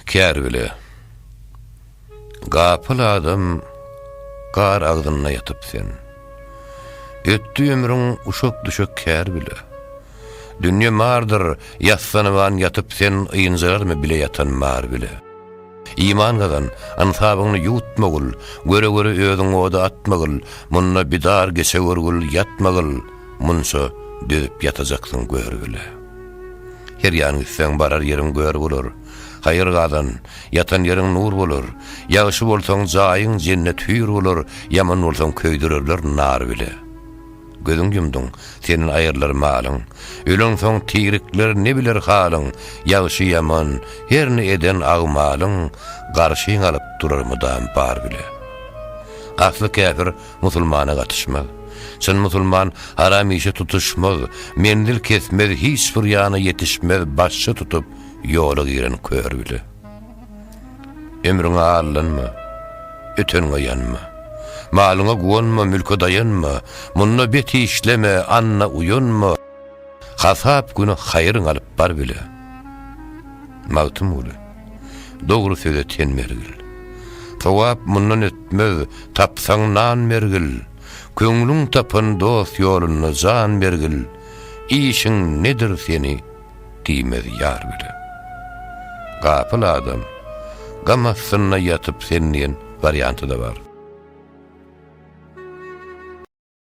Kär bile. Gapyl adam gar agzynda ýatyp sen. Ötdi ömrüň uşak-düşek kär bile. Dünýe mardyr, ýassanyban ýatyp sen ynjararmy bile ýatan mar bile. Iman gazan, ynsabyňny ýuwutmagyl, göre-göre özüň oda atmagyl, munda bidar geçe görgül ýatmagyl, munça dözüp ýatajaksyň gör bile. Her ýan gitseň, barar ýeriň gör bolar. Haýyr gazan, ýatan ýeriň nur bolar. Ýagşy bolsaň, jaýyň jennet hüýr bolar, ýaman bolsaň, köýdürerler nar bile. Gözüň ýumduň, senden aýrylar malyň. Öleňsoň, tirikler ne biler halyň? Ýagşy-ýaman, her ne eden agmalyň, garşyňa alyp durar mydam bar bile. Asly käbir, musulmana gatyşmaz. Çyn musulman haram işe tutuşmaz, menzil kesmez, hiç bir ýana ýetişmez, başçy tutup, ýola giren kör bile. Ömrüňe allanma, öteniňe ýanma. Malyňa guwanma, mülke daýanma, munda bet işleme, anna uýanma. Hasap güni haýryň alyp bar bile. Magtymguly. Dogry söze ten mergil. Sogap mundan ötmez, tapsaň nan mergil. Köňlüň tapan dost ýolunda jan mergil. Işiň nedir seni diýmez ýar bile. Gapyl adam, gam astynda ýatyp sen diýen warianty-da bar.